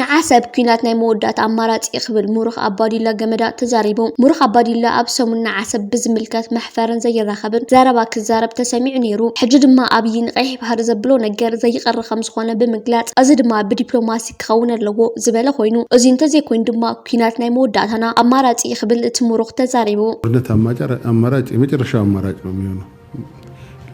ንዓሰብ ኲናት ናይ መወዳእታ ኣማራጺ'ዩ ክብል ምሩኽ ኣባዱላ ገመዳ ተዛሪቡ። ምሩኽ ኣባዱላ ኣብ ሰሙን ንዓሰብ ብዝምልከት መሕፈርን ዘይራኸብን ዘረባ ክዛረብ ተሰሚዑ ነይሩ። ሕጂ ድማ ኣብዪ ንቀይሕ ባሕሪ ዘብሎ ነገር ዘይቀሪ ከምዝኾነ ብምግላጽ እዚ ድማ ብዲፕሎማሲ ክኸውን ኣለዎ ዝበለ ኮይኑ እዙይ እንተዘይኮይኑ ድማ ኲናት ናይ መወዳእታና ኣማራጺ'ዩ ክብል እቲ ምሩኽ ተዛሪቡ። ጦርነት ኣማራጭ የመጨረሻው ኣማራጭ ነው የሚሆነው።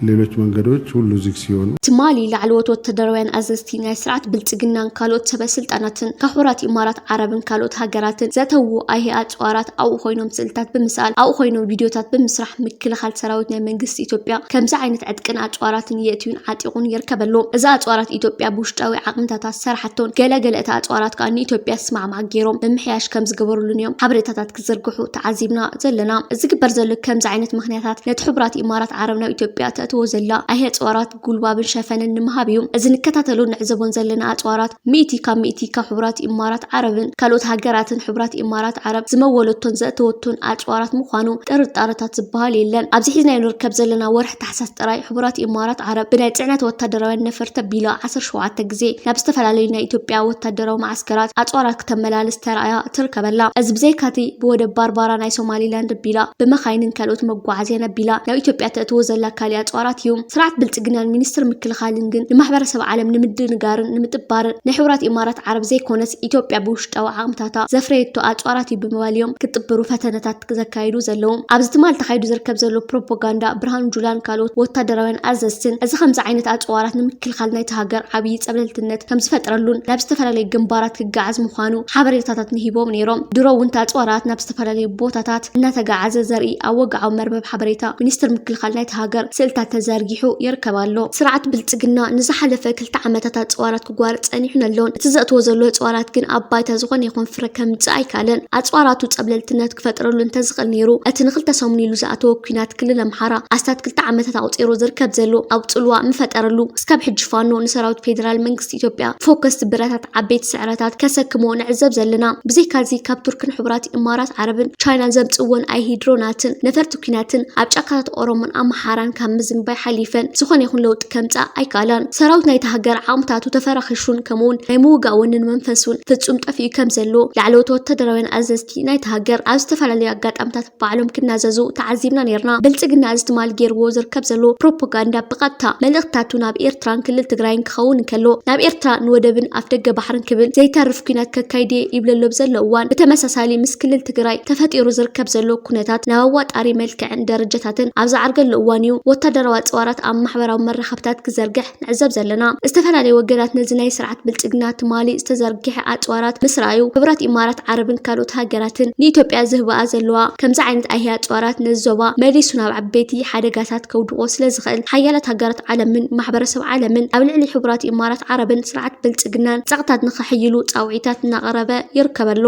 ሌሎች መንገዶች ሁሉ ዝግ ሲሆኑ ትማሊ ላዕለዎት ወታደራውያን ኣዘዝቲ ናይ ስርዓት ብልጽግናን ካልኦት ሰበ ስልጣናትን ካብ ሕቡራት ኢማራት ዓረብን ካልኦት ሃገራትን ዘተዉ ኣይሂ ኣጽዋራት ኣብኡ ኮይኖም ስእልታት ብምስኣል ኣብኡ ኮይኖም ቪድዮታት ብምስራሕ ምክልኻል ሰራዊት ናይ መንግስቲ ኢትዮጵያ ከምዚ ዓይነት ዕጥቅን ኣጽዋራትን የእትዩን ዓጢቑን ይርከብ ኣሎ። እዚ ኣጽዋራት ኢትዮጵያ ብውሽጣዊ ዓቕምታታ ዝሰርሓቶን ገለ ገለ እታ ኣጽዋራት ከኣ ንኢትዮጵያ ዝስማዕማዕ ገይሮም ምምሕያሽ ከምዝገበሩሉን እዮም ሓበሬታታት ክዝርግሑ ተዓዚብና ዘለና። ዝግበር ዘሎ ከምዚ ዓይነት ምኽንያታት ነቲ ሕቡራት ኢማራት ዓረብ ናብ ኢትዮጵያ ተእትዎ ዘላ ኣይሂ ኣጽዋራት ጉልባብን ሸፈንን ንምሃብ እዩ። እዚ ንከታተሎን ንዕዘቦን ዘለና ኣጽዋራት ሚእቲ ካብ ሚእቲ ካብ ሕቡራት ኢማራት ዓረብን ካልኦት ሃገራትን ሕቡራት ኢማራት ዓረብ ዝመወለቶን ዘእተወቶን ኣጽዋራት ምዃኑ ጥርጣረታት ዝበሃል የለን። ኣብዚ ሒዝናዮ ንርከብ ዘለና ወርሒ ታሕሳስ ጥራይ ሕቡራት ኢማራት ዓረብ ብናይ ፅዕነት ወታደራውያን ነፈርቲ ኣቢላ ዓሰርተ ሸውዓተ ግዜ ናብ ዝተፈላለዩ ናይ ኢትዮጵያ ወታደራዊ መዓስከራት ኣፅዋራት ክተመላልስ ተራእያ ትርከበላ። እዚ ብዘይካቲ ብወደብ ባርባራ ናይ ሶማሊላንድ ኣቢላ ብመኻይንን ካልኦት መጓዓዝያን ኣቢላ ናብ ኢትዮጵያ ተእትዎ ዘላ ካሊእ ኣፅዋራት እዩ። ስርዓት ብልፅግናን ሚኒስትር ምክልኻልን ግን ንማሕበረሰብ ዓለም ንምድንጋርን ንምጥባርን ናይ ሕቡራት ኢማራት ዓረብ ዘይኮነስ ኢትዮጵያ ብውሽጢ ውሽጣዊ ዓቕምታታ፣ ዘፍረየቶ ኣጽዋራት እዩ ብምባል እዮም ክጥብሩ ፈተነታት ዘካይዱ ዘለዉ። ኣብዚ ትማል ተኻይዱ ዝርከብ ዘሎ ፕሮፖጋንዳ ብርሃኑ ጁላን ካልኦት ወታደራውያን ኣዘዝትን፣ እዚ ከምዚ ዓይነት ኣጽዋራት ንምክልኻል ናይታ ሃገር ዓብዪ ጸብለልትነት ከምዝፈጥረሉን ናብ ዝተፈላለዩ ግንባራት ክጋዓዝ ምዃኑ ሓበሬታታት ንሂቦም ነይሮም። ድሮ እውን እቲ ኣጽዋራት ናብ ዝተፈላለዩ ቦታታት እናተጋዓዘ ዘርኢ ኣብ ወግዓዊ መርበብ ሓበሬታ ሚኒስትሪ ምክልኻል ናይታ ሃገር ስእልታት ተዘርጊሑ ይርከብ ኣሎ። ስርዓት ብልጽግና ንዝሓለፈ ክልተ ዓመታት ኣጽዋራት ጓር ጸኒሑን ኣሎን። እቲ ዘእትዎ ዘሎ ኣጽዋራት ግን ኣብ ባይታ ዝኾነ ይኹን ፍረ ከምጽእ ኣይከኣለን። ኣጽዋራቱ ጸብለልትነት ክፈጥረሉ እንተዝኽእል ነይሩ፣ እቲ ንኽልተ ሰሙን ኢሉ ዝኣተዎ ኲናት ክልል ኣምሓራ ኣስታት ክልተ ዓመታት ኣቑጺሩ ዝርከብ ዘሎ ኣብ ጽልዋ ምፈጠረሉ። እስካብ ሕጂ ፋኖ ንሰራዊት ፌደራል መንግስቲ ኢትዮጵያ ፎከስቲ ብረታት ዓበይቲ ስዕረታት ከሰክሞ ንዕዘብ ዘለና። ብዘይካዚ ካብ ቱርክን ሕቡራት ኢማራት ዓረብን ቻይናን ዘምጽእወን ኣይሂድሮናትን ነፈርቲ፣ ኲናትን ኣብ ጫካታት ኦሮሞን ኣምሓራን ካብ ምዝንባይ ሓሊፈን ዝኾነ ይኹን ለውጢ ከምጽኣ ኣይከኣላን። ሰራዊት ናይታ ሃገር ዓቕምታቱ ተፈራኺሹን ከምኡ'ውን ናይ ምውጋእ ወንን መንፈሱን ፍጹም ጠፊኡ ከም ዘሎ ላዕለዎት ወተሃደራውያን ኣዘዝቲ ናይታ ሃገር ኣብ ዝተፈላለዩ ኣጋጣምታት ባዕሎም ክናዘዙ ተዓዚብና ኔርና። ብልጽግና እዚ ትማል ጌርዎ ዝርከብ ዘሎ ፕሮፖጋንዳ ብቐጥታ መልእኽትታቱ ናብ ኤርትራን ክልል ትግራይን ክኸውን እንከሎ ናብ ኤርትራ ንወደብን ኣፍደገ ባሕርን ክብል ዘይተርፍ ኲናት ከካይድ'የ ይብለሎ ብዘሎ እዋን ብተመሳሳሊ ምስ ክልል ትግራይ ተፈጢሩ ዝርከብ ዘሎ ኩነታት ናብ ኣዋጣሪ መልክዕን ደረጃታትን ኣብ ዝዓርገሉ እዋን እዩ ወታደራዊ ኣፅዋራት ኣብ ማሕበራዊ መራኸብታት ክዘርግሕ ንዕዘብ ዘለና። ዝተፈላለዩ ወገናት ነዚ ናይ ስርዓት ብልፅግና ትማሊ ዝተዘርግሐ ኣፅዋራት ምስ ረኣዩ ሕቡራት ኢማራት ዓረብን ካልኦት ሃገራትን ንኢትዮጵያ ዝህብኣ ዘለዋ ከምዚ ዓይነት ኣይሂ ኣፅዋራት ነዚ ዞባ መሊሱ ናብ ዓበይቲ ሓደጋታት ከውድቖ ስለዝኽእል ሓያላት ሃገራት ዓለምን ማሕበረሰብ ዓለምን ኣብ ልዕሊ ሕቡራት ኢማራት ዓረብን ስርዓት ብልፅግናን ፀቕጥታት ንኸሕይሉ ፃውዒታት እናቐረበ ይርከብ ኣሎ።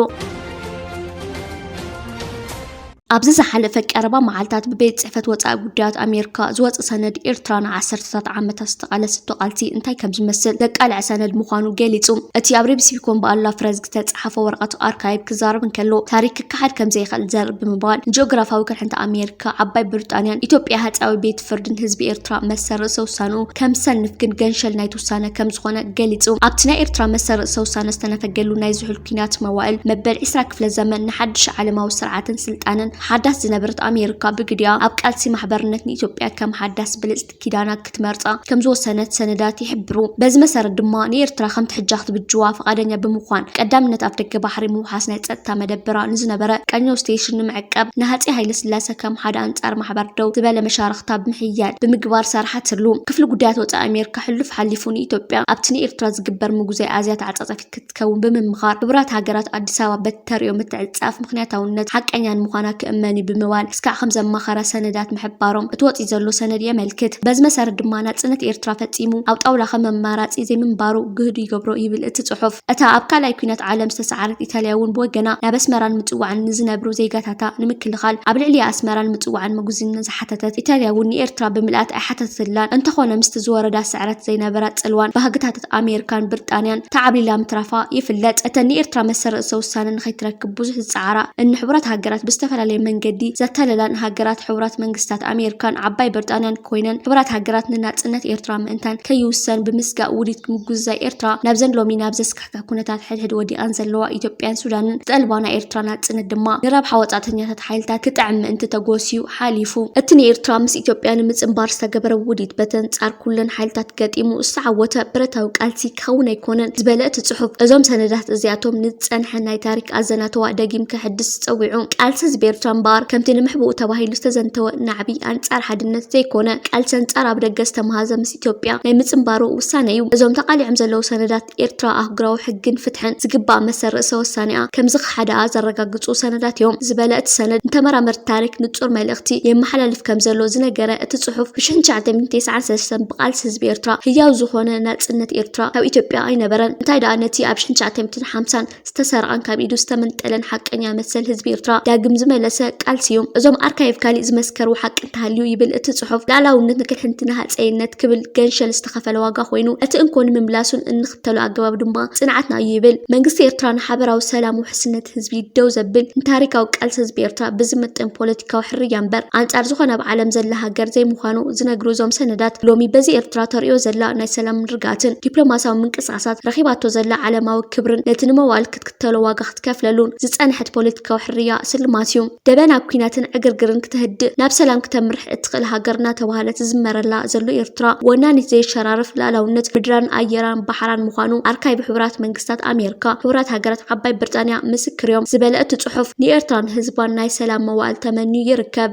ኣብዚ ዝሓለፈ ቀረባ መዓልታት ብቤት ጽሕፈት ወጻኢ ጉዳያት ኣሜሪካ ዝወጸ ሰነድ ኤርትራ ንዓሰርተታት ዓመታት ዝተቓለሰቶ ቃልሲ እንታይ ከም ዝመስል ዘቃልዐ ሰነድ ምዃኑ ገሊጹ። እቲ ኣብ ሬብሲቢኮን ብኣላ ፍረዝ ዝተጻሕፈ ወረቐት ኣርካይቭ ክዛረብ እንከሎ ታሪክ ክከሓድ ከም ዘይክእል ዘርኢ ብምባል ንጂኦግራፋዊ ቅርሕንቲ ኣሜሪካ፣ ዓባይ ብሪጣንያን ኢትዮጵያ ሃጸያዊ ቤት ፍርድን ህዝቢ ኤርትራ መሰል ርእሰ ውሳንኡ ከም ዝሰንፍ ግን ገንሸል ናይቲ ውሳነ ከም ዝኾነ ገሊጹ። ኣብቲ ናይ ኤርትራ መሰል ርእሰ ውሳነ ዝተነፈገሉ ናይ ዝሑል ኲናት መዋእል መበል ዕስራ ክፍለ ዘመን ንሓድሽ ዓለማዊ ስርዓትን ስልጣነን ሓዳስ ዝነበረት ኣሜርካ ብግዲኣ ኣብ ቃልሲ ማሕበርነት ንኢትዮጵያ ከም ሓዳስ ብልጽቲ ኪዳና ክትመርጻ ከም ዝወሰነት ሰነዳት ይሕብሩ። በዚ መሰረት ድማ ንኤርትራ ከምቲ ሕጃ ክትብጅዋ ፍቓደኛ ብምዃን ቀዳምነት ኣፍደገ ባሕሪ ምውሓስ ናይ ጸጥታ መደበራ ንዝነበረ ቀኘው ስቴሽን ንምዕቃብ ንሃጼ ሃይለስላሰ ከም ሓደ ኣንጻር ማሕበር ደው ዝበለ መሻርኽታ ብምሕያል ብምግባር ሰርሓትሉ። ክፍሊ ጉዳያት ወጻኢ ኣሜሪካ ሕሉፍ ሓሊፉ ንኢትዮጵያ ኣብቲ ንኤርትራ ዝግበር ምጉዛይ ኣዝያ ተዓጻጻፊት ክትከውን ብምምኻር፣ ሕቡራት ሃገራት ኣዲስ ኣበባ በቲ ተርእዮ ምትዕጽጻፍ ምኽንያታውነት ሓቀኛን ምዃና ክእመን እዩ ብምባል እስካዕ ከም ዘማኸራ ሰነዳት ምሕባሮም እቲ ወጺኡ ዘሎ ሰነድ የመልክት። በዚ መሰረት ድማ ናጽነት ኤርትራ ፈጺሙ ኣብ ጣውላ ከም ኣማራጺ ዘይምንባሩ ግህዱ ይገብሮ ይብል እቲ ጽሑፍ። እታ ኣብ ካልኣይ ኲናት ዓለም ዝተሰዓረት ኢጣልያ እውን ብወገና ናብ ኣስመራን ምጽዋዕን ንዝነብሩ ዜጋታታ ንምክልኻል ኣብ ልዕሊ ኣስመራን ምጽዋዕን ምጉዝነት ዝሓተተት ኢጣልያ እውን ንኤርትራ ብምልኣት ኣይሓተተትላን። እንተኾነ ምስቲ ዝወረዳ ስዕረት ዘይነበራ ጽልዋን ባህግታትት ኣሜርካን ብርጣንያን ተዓብሊላ ምትራፋ ይፍለጥ። እተን ንኤርትራ መሰል ርእሰ ውሳነ ንኸይትረክብ ብዙሕ ዝጸዓራ እን ሕቡራት ሃገራት ብዝተፈላለየ መንገዲ ዘታለላን ሃገራት ሕቡራት መንግስታት ኣሜርካን ዓባይ ብርጣንያን ኮይነን ሕቡራት ሃገራት ንናጽነት ኤርትራ ምእንቲ ምእንታን ከይውሰን ብምስጋእ ውዲት ምጉዝዛይ ኤርትራ ናብዘን ሎሚ ናብ ዘስካሕክሕ ኩነታት ሕድሕድ ወዲቐን ዘለዋ ኢትዮጵያን ሱዳንን ዝጠልባ ናይ ኤርትራ ናጽነት ድማ ንረብሓ ወጻእተኛታት ሓይልታት ክጥዕም ምእንቲ ተጎስዩ ሓሊፉ። እቲ ንኤርትራ ምስ ኢትዮጵያ ንምጽንባር ዝተገበረ ውዲት በተንጻር ኩለን ሓይልታት ገጢሙ ዝተዓወተ ብረታዊ ቃልሲ፣ ክኸውን ኣይኮነን ዝበለ እቲ ጽሑፍ፣ እዞም ሰነዳት እዚኣቶም ንዝጸንሐ ናይ ታሪኽ ኣዘናትዋ ደጊም ከሐድስ ጸዊዑ። ቃልሲ ህዝቢ ኤርትራ እምበኣር፣ ከምቲ ንምሕብኡ ተባሂሉ ዝተዘንተወ ናዕቢ ኣንጻር ሓድነት ዘይኮነ፣ ቃልሲ ኣንጻር ኣብ ደገ ዝተመሃዘ ምስ ኢትዮጵያ ናይ ምጽንባሩ ውሳነ እዩ። እዞም ተቓሊዖም ዘለዉ ሰነዳት፣ ኤርትራ ኣህጉራዊ ሕግን ፍትሕን፣ ዝግባእ መሰል ርእሰ-ወሳኔኣ ከም ሓደኣ ዘረጋግጹ ሰነዳት እዮም ዝበለ እቲ ሰነድ፣ ንተመራመርቲ ታሪኽ ንጹር መልእኽቲ የመሓላልፍ ከም ዘሎ ዝነገረ እቲ ጽሑፍ፣ ብ ሽሕን ትሽዓተሚእትን ቴስዓን ሰለስተን ብቓልሲ ህዝቢ ኤርትራ ህያው ዝኾነ ናጽነት ኤርትራ ካብ ኢትዮጵያ ኣይነበረን። እንታይ ደኣ ነቲ ኣብ ሽሕን ትሽዓተሚእትን ሓምሳን ዝተሰርቐን ካብ ኢዱ ዝተመንጠለን ሓቀኛ መሰል ህዝቢ ኤርትራ ዳግም ዝመለሰ ቃልሲ እዩ። እዞም ኣርካይቭ ካሊእ ዝመስከርዎ ሓቂ እንተሃልዩ ይብል እቲ ጽሑፍ፣ ልኣላውነት ንክልሕንቲ ንሃጸይነት ክብል ገንሸል ዝተኸፈለ ዋጋ ኮይኑ እቲ እንኮ ንምምላሱን እንክ ብዝኽተሎ ኣገባብ ድማ ፅንዓትና እዩ ይብል። መንግስቲ ኤርትራ ንሓበራዊ ሰላም ውሕስነት ህዝቢ ደው ዘብል ንታሪካዊ ቃልሲ ህዝቢ ኤርትራ ብዝምጥን ፖለቲካዊ ሕርያ እምበር ኣንፃር ዝኾነ ኣብ ዓለም ዘላ ሃገር ዘይምዃኑ ዝነግሩ እዞም ሰነዳት ሎሚ በዚ ኤርትራ ተርእዮ ዘላ ናይ ሰላምን ርግኣትን ዲፕሎማሲያዊ ምንቅስቓሳት ረኺባቶ ዘላ ዓለማዊ ክብርን ነቲ ንመዋእል ተሎ ዋጋ ክትከፍለሉን ዝጸንሐት ፖለቲካዊ ሕርያ ስልማት እዩ። ደበ ናብ ኲናትን ዕግርግርን ክተህድእ ናብ ሰላም ክተምርሕ እትኽእል ሃገር እናተባህለት ዝዝመረላ ዘሎ ኤርትራ ወናኒት ዘይሸራርፍ ልኣላውነት ምድራን ኣየራን ባሕራን ምዃኑ ኣርካይቭ ሕቡራት መንግስታት ኣሜርካ ሕቡራት ሃገራት ዓባይ ብርጣንያ ምስክር እዮም ዝበለ እቲ ጽሑፍ ንኤርትራን ህዝባን ናይ ሰላም መዋእል ተመንዩ ይርከብ።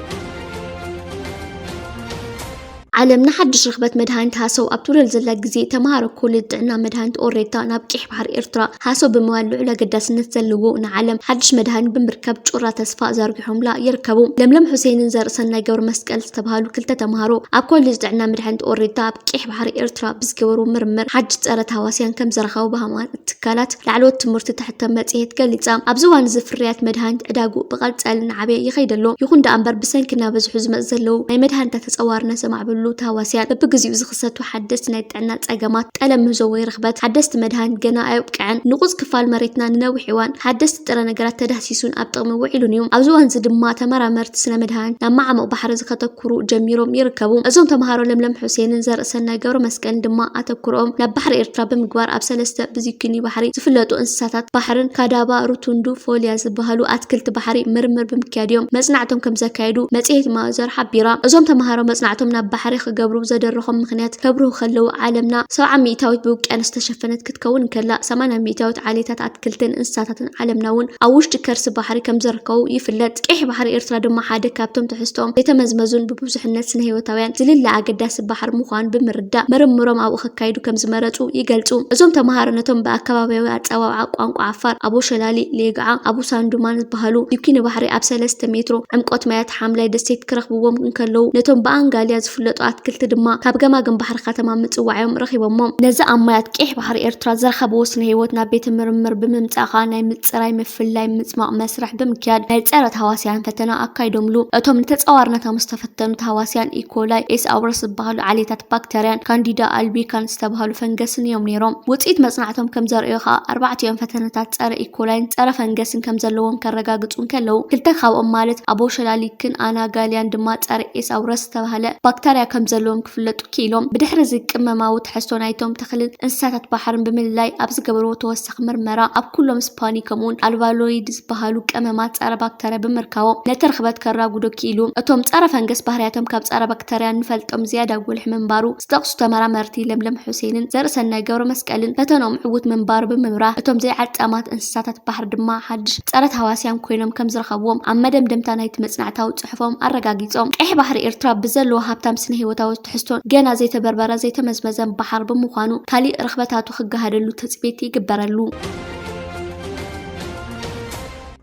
ዓለም ንሓድሽ ርኽበት መድሃኒት ሃሰው ኣብ ትብለሉ ዘላ ግዜ፣ ተመሃሮ ኮሌጅ ጥዕና መድሃኒት ኦሬታ ናብ ቂሕ ባሕሪ ኤርትራ ሃሰው ብምባል ልዑል ኣገዳስነት ዘለዎ ንዓለም ሓድሽ መድሃኒት ብምርካብ ጩራ ተስፋ ዘርጊሖምላ ይርከቡ። ለምለም ሑሴንን ዘርእሰናይ ገብረመስቀል ዝተብሃሉ ክልተ ተመሃሮ ኣብ ኮሌጅ ጥዕና መድሃኒት ኦሬታ ኣብ ቂሕ ባሕሪ ኤርትራ ብዝገበርዎ ምርምር ሓድሽ ጸረ ታህዋስያን ከምዝረኸቡ ብሃማት ትካላት ላዕለዎት ትምህርቲ ተሕተም መጽሔት ገሊጻ። ኣብዚ እዋን እዚ ፍርያት መድሃኒት ዕዳግኡ ብቐጻሊ እናዓበየ ይኸይድ ኣሎ። ይኹን ደኣ እምበር ብሰንኪ እናበዝሑ ዝመጽ ዘለዉ ናይ መድሃኒታት ተጸዋርነት ዘማዕብሉ ተሃዋስያን በብግዜኡ ዝኽሰቱ ሓደስቲ ናይ ጥዕና ጸገማት ጠለብ ምህዞ ወይ ርኽበት ሓደስቲ መድሃኒት ገና ኣየብቅዐን። ንቑጽ ክፋል መሬትና ንነዊሕ እዋን ብሓደስቲ ጥረ ነገራት ተዳህሲሱን ኣብ ጥቕሚ ውዒሉን እዩ። ኣብዚ እዋን እዚ ድማ ተመራመርቲ ስነ መድሃኒት ናብ መዓሙቕ ባሕሪ ዝከተኩሩ ጀሚሮም ይርከቡ። እዞም ተመሃሮ ለምለም ሑሴንን ዘርእሰናይ ገብረመስቀልን ድማ ኣብ። ኣተኩሮኦም ናብ ባሕሪ ኤርትራ ብምግባር ኣብ ሰለስተ ብዚኩኒ ባሕሪ ዝፍለጡ እንስሳታት ባሕርን፣ ካዳባ፣ ሩቱንዱ፣ ፎልያ ዝበሃሉ ኣትክልቲ ባሕሪ፣ ምርምር ብምክያድ'ዮም መጽናዕቶም ከምዘካየዱ መጽሔት ማዘር ሓቢራ። እዞም ተመሃሮ መጽናዕቶም ናብ ባሕሪ ክገብሩ ዘደረኾም ምኽንያት ከብርሁ ከለዉ፣ ዓለምና ሰብዓ ሚእታዊት ብውቅያኖስ ዝተሸፈነት ክትከውን እንከላ፣ ሰማንያ ሚእታዊት ዓሌታት ኣትክልትን እንስሳታትን ዓለምና እውን ኣብ ውሽጢ ከርሲ ባሕሪ ከምዘርከቡ ይፍለጥ። ቀይሕ ባሕሪ ኤርትራ ድማ ሓደ ካብቶም ትሕዝቶኦም ዘይተመዝመዙን ብብዙሕነት ስነ-ህይወታውያን ዝልለ ኣገዳሲ ባሕሪ ምዃኑ ብምርዳእ ምርምሮም ኣብኡ ከካይዱ ከምዝመረጹ ይገልጹ። እዞም ተመሃሮ ነቶም ብኣከባብያዊ ኣጸዋውዓ ቋንቋ ዓፋር ኣቦሸላሊ፣ ሌግዓ፣ ኣቡሳንዱማን ዝበሃሉ ዲኲኒ ባሕሪ ኣብ ሰለስተ ሜትሮ ዕምቆት ማያት ሓምላይ ደሴት ክረኽብዎም እንከለዉ ነቶም ብኣንጋልያ ዝፍለጡ ኣትክልቲ ድማ ካብ ገማግም ባሕሪ ከተማ ምጽዋዕ'ዮም ረኺቦሞም። ነዚ ኣብ ማያት ቀይሕ ባሕሪ ኤርትራ ዝረኸብዎ ስነ ህይወት ናብ ቤተ ምርምር ብምምጻእ ከኣ ናይ ምጽራይ፣ ምፍላይ፣ ምጽማቕ መስርሕ ብምክያድ ናይ ጸረ ታህዋስያን ፈተና ኣካይዶምሉ። እቶም ንተጻዋርነት ኣብ ዝተፈተኑ ታህዋስያን ኢኮላይ፣ ኤስ ኣውረስ ዝበሃሉ ዓሌታት ባክተርያን ካንዲዳ ኣልቢካን ዝተበሃሉ ፈንገስን እዮም ነይሮም። ውጽኢት መጽናዕቶም ከም ዘርእዮ ከኣ ኣርባዕቲኦም ፈተነታት ጸረ ኢኮላይን ጸረ ፈንገስን ከም ዘለዎም ከረጋግጹ እንከለዉ ክልተ ካብኦም ማለት ኣቦሸላሊክን ኣናጋልያን ድማ ጸረ ኤስ ኣውረስ ዝተበሃለ ባክተርያ ከም ዘለዎም ክፍለጡ ክኢሎም ብድሕሪ'ዚ ቅመማዊ ትሕዝቶ ናይቶም ተኽልን እንስሳታት ባሕርን ብምልላይ ኣብ ዝገበርዎ ተወሳኺ ምርመራ ኣብ ኩሎም ስፓኒ ከምኡ'ውን ኣልባሎይድ ዝበሃሉ ቀመማት ጸረ-ባክተርያ ብምርካቦም ነቲ ርኽበት ከራጉዶ ክኢሉ። እቶም ጸረ-ፈንገስ ባህርያቶም ካብ ጸረ-ባክተርያ እንፈልጦም ዝያዳ ጉልሒ ምንባሩ ዝጠቕሱ ተመራመርቲ ለምለም ሑሴንን ዘርእሰናይ ገብረመስቀልን ፈተንኦም ዕዉት ምንባሩ ብምብራህ እቶም ዘይዓጻማት እንስሳታት ባሕሪ ድማ ሓድሽ ጸረ-ታህዋስያን ኮይኖም ከምዝረኸብዎም ኣብ መደምደምታ ናይቲ መጽናዕታዊ ጽሑፎም ኣረጋጊጾም። ቀይሕ ባሕሪ ኤርትራ ብዘለዎ ሃብታም ስነ-ህይወታዊ ትሕዝቶን ገና ዘይተበርበረ ዘይተመዝመዘን ባሕር ብምዃኑ ካሊእ ርኽበታቱ ክገሃደሉ ትጽቢት ይግበረሉ።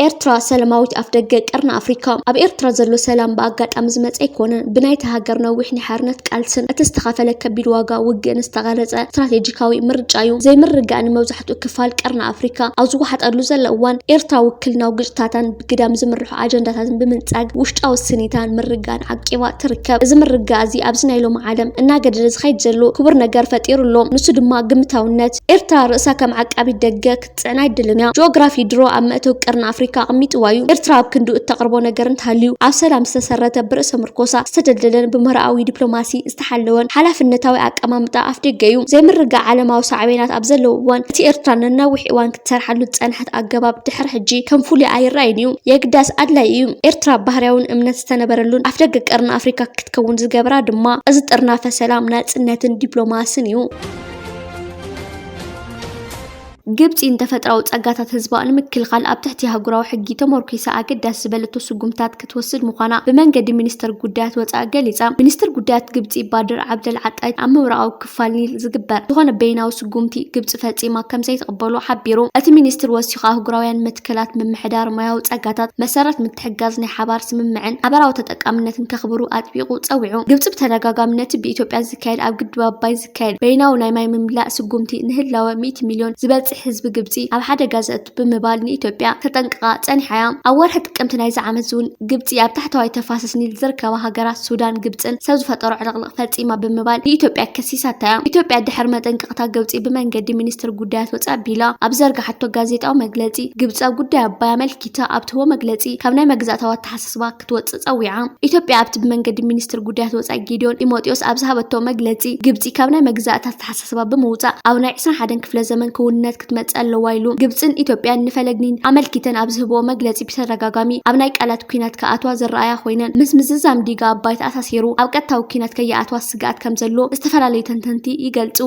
ኤርትራ ሰለማዊት ኣፍደገ ቀርኒ ኣፍሪካ። ኣብ ኤርትራ ዘሎ ሰላም ብኣጋጣሚ ዝመፀ ኣይኮነን። ብናይታ ሃገር ነዊሕ ናይ ሓርነት ቃልስን እቲ ዝተኸፈለ ከቢድ ዋጋ ውግእን ዝተቐረፀ ስትራቴጂካዊ ምርጫ እዩ። ዘይምርግጋእ ንመብዛሕትኡ ክፋል ቀርኒ ኣፍሪካ ኣብ ዝወሓጠሉ ዘሎ እዋን ኤርትራ ውክልናዊ ግጭታታን ግዳም ዝምርሑ ኣጀንዳታትን ብምንጻግ ውሽጣዊ ስኒታን ምርጋን ዓቂባ ትርከብ። እዚ ምርጋእ እዚ ኣብዚ ናይ ሎሚ ዓለም እናገደደ ዝኸይድ ዘሎ ክቡር ነገር ፈጢሩ ኣሎ። ንሱ ድማ ግምታውነት። ኤርትራ ርእሳ ከም ዓቃቢት ደገ ክትጽዕን ኣይደልን እያ። ጂኦግራፊ ድሮ ኣብ መእተዊ ቀርኒ ኣፍሪካ ኣቕሚጥዋ እዩ። ኤርትራ ኣብ ክንዱ እተቕርቦ ነገር እንተሃልዩ ኣብ ሰላም ዝተሰረተ ብርእሰ ምርኮሳ ዝተደልደለን ብምህሮኣዊ ዲፕሎማሲ ዝተሓለወን ሓላፍነታዊ ኣቀማምጣ ኣፍደገ'ዩ። ዘይምርግጋእ ዓለማዊ ሳዕቤናት ኣብ ዘለዎ እዋን፣ እቲ ኤርትራ ንነዊሕ እዋን ክትሰርሓሉ ዝጸንሐት ኣገባብ ድሕሪ ሕጂ ከም ፍሉይ ኣይረኣይን'ዩ። የግዳስ ኣድላዪ እዩ። ኤርትራ ባህርያውን እምነት ዝተነበረሉን ኣፍደገ ቀርኒ ኣፍሪቃ ክትከውን ዝገበራ ድማ እዚ ጥርናፈ ሰላም፣ ናጽነትን ዲፕሎማስን እዩ። ግብፂ ንተፈጥራዊ ፀጋታት ህዝባ ንምክልኻል ኣብ ትሕቲ ኣህጉራዊ ሕጊ ተሞርኲሳ ኣገዳሲ ዝበለቶ ስጉምትታት ክትወስድ ምዃና ብመንገዲ ሚኒስተር ጉዳያት ወፃኢ ገሊፃ። ሚኒስተር ጉዳያት ግብፂ ባድር ዓብደል ዓጣጅ ኣብ ምብራቓዊ ክፋል ኒል ዝግበር ዝኾነ በይናዊ ስጉምቲ ግብፂ ፈፂማ ከምዘይትቕበሎ ሓቢሩ። እቲ ሚኒስትር ወሲኹ ኣህጉራውያን መትከላት ምምሕዳር ማያዊ ፀጋታት መሰረት ምትሕግጋዝ ናይ ሓባር ስምምዕን ሓበራዊ ተጠቃምነትን ከኽብሩ ኣጥቢቑ ፀዊዑ። ግብፂ ብተደጋጋሚ ነቲ ብኢትዮጵያ ዝካየድ ኣብ ግድብ ኣባይ ዘካየድ በይናዊ ናይ ማይ ምምላእ ስጉምቲ ንህላወ ሚእቲ ሚልዮን ዝበጽሕ ህዝቢ ግብጺ ኣብ ሓደጋ ዘእቱ ብምባል ንኢትዮጵያ ተጠንቅቓ ጸኒሓ'ያ። ኣብ ወርሒ ጥቅምቲ ናይዚ ዓመት'ዚ'ውን ግብጺ ኣብ ታሕተዋይ ተፋሰስ ኒል ዝርከባ ሃገራት ሱዳን ግብጽን ሰብ ዝፈጠሮ ዕልቕልቕ ፈጺማ ብምባል ንኢትዮጵያ ከሲሳታ'ያ። ኢትዮጵያ ድሕሪ መጠንቀቕታ ግብጺ ብመንገዲ ሚኒስትሪ ጉዳያት ወጻኢ ኣቢላ ኣብ ዝዘርግሓቶ ጋዜጣዊ መግለጺ ግብጺ ኣብ ጉዳይ ኣባይ ኣመልኪታ ኣብ ትህቦ መግለጺ ካብ ናይ መግዛእታዊ ኣተሓሳስባ ክትወጽእ ጸዊዓ። ኢትዮጵያ ኣብቲ ብመንገዲ ሚኒስትር ጉዳያት ወጻኢ ጌዲዮን ጢሞቴዎስ ኣብ ዝሃበቶ መግለጺ፣ ግብጺ ካብ ናይ መግዛእቲ ኣተሓሳስባ ብምውጻእ ኣብ ናይ ዕስራን ሓደን ክፍለ ዘመን ክውንነት ክትመጽእ ኣለዋ ኢሉ። ግብጽን ኢትዮጵያን ንፈለግ ኒል ኣመልኪተን ኣብ ዝህብኦ መግለጺ ብተደጋጋሚ ኣብ ናይ ቃላት ኲናት ክኣትዋ ዝረኣያ ኮይነን ምስ ምዝዛም ዲጋ ኣባይ ተኣሳሲሩ ኣብ ቀጥታዊ ኲናት ከይኣትዋ ስግኣት ከምዘሎ ዝተፈላለዩ ተንተንቲ ይገልጹ።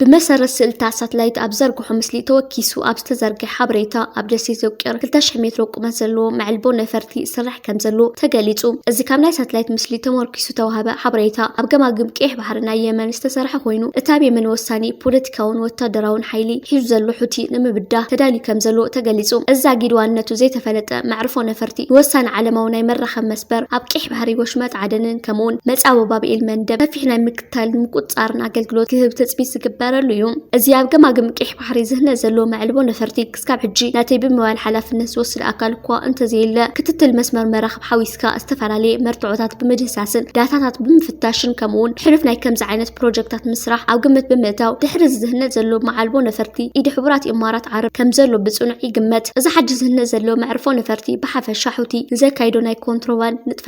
ብመሰረት ስእልታት ሳትላይት ኣብ ዝዘርግሖ ምስሊ ተወኪሱ ኣብ ዝተዘርግሐ ሓበሬታ፣ ኣብ ደሴት ዘውቂር ክልተ ሽሕ ሜትሮ ቁመት ዘለዎ መዕልቦ ነፈርቲ ይስራሕ ከምዘሎ ተገሊጹ። እዚ ካብ ናይ ሳትላይት ምስሊ ተሞርኪሱ ዝተዋህበ ሓበሬታ፣ ኣብ ገማግም ቀይሕ ባሕሪ ናይ የመን ዝተሰርሐ ኮይኑ፣ እቲ ኣብ የመን ወሳኒ ፖለቲካውን ወታደራውን ሓይሊ ሒዙ ዘሎ ሑቲ ንምብዳህ ተዳልዩ ከምዘሎ ተገሊጹ። እዚ ዛጊድ ዋንነቱ ዘይተፈለጠ መዕርፎ ነፈርቲ፣ ንወሳኒ ዓለማዊ ናይ መራኸቢ መስበር ኣብ ቀይሕ ባሕሪ፣ ወሽመጥ ዓደንን ከምኡ'ውን መጻወ ባብኤል መንደብ ሰፊሕ ናይ ምክትታልን ምቁፅፃርን ኣገልግሎት ክህብ ትፅቢት ዝግበረሉ እዩ። እዚ ኣብ ገማግም ቂሕ ባሕሪ ዝህነፅ ዘሎ መዕልቦ ነፈርቲ ክስካብ ሕጂ ነቲ ብምባል ሓላፍነት ዝወስድ ኣካል እኳ እንተዘየለ ክትትል መስመር መራኽብ ሓዊስካ ዝተፈላለየ መርትዖታት ብምድህሳስን ዳታታት ብምፍታሽን ከምኡውን ሕሉፍ ናይ ከምዚ ዓይነት ፕሮጀክታት ምስራሕ ኣብ ግምት ብምእታው ድሕሪ እዚ ዝህነፅ ዘሎ መዓልቦ ነፈርቲ ኢድ ሕቡራት ኢማራት ዓረብ ከም ዘሎ ብፅኑዕ ይግመት። እዚ ሓጂ ዝህነፅ ዘሎ መዕርፎ ነፈርቲ ብሓፈሻ ሑቲ ንዘካይዶ ናይ ኮንትሮባንድ ንጥፈታት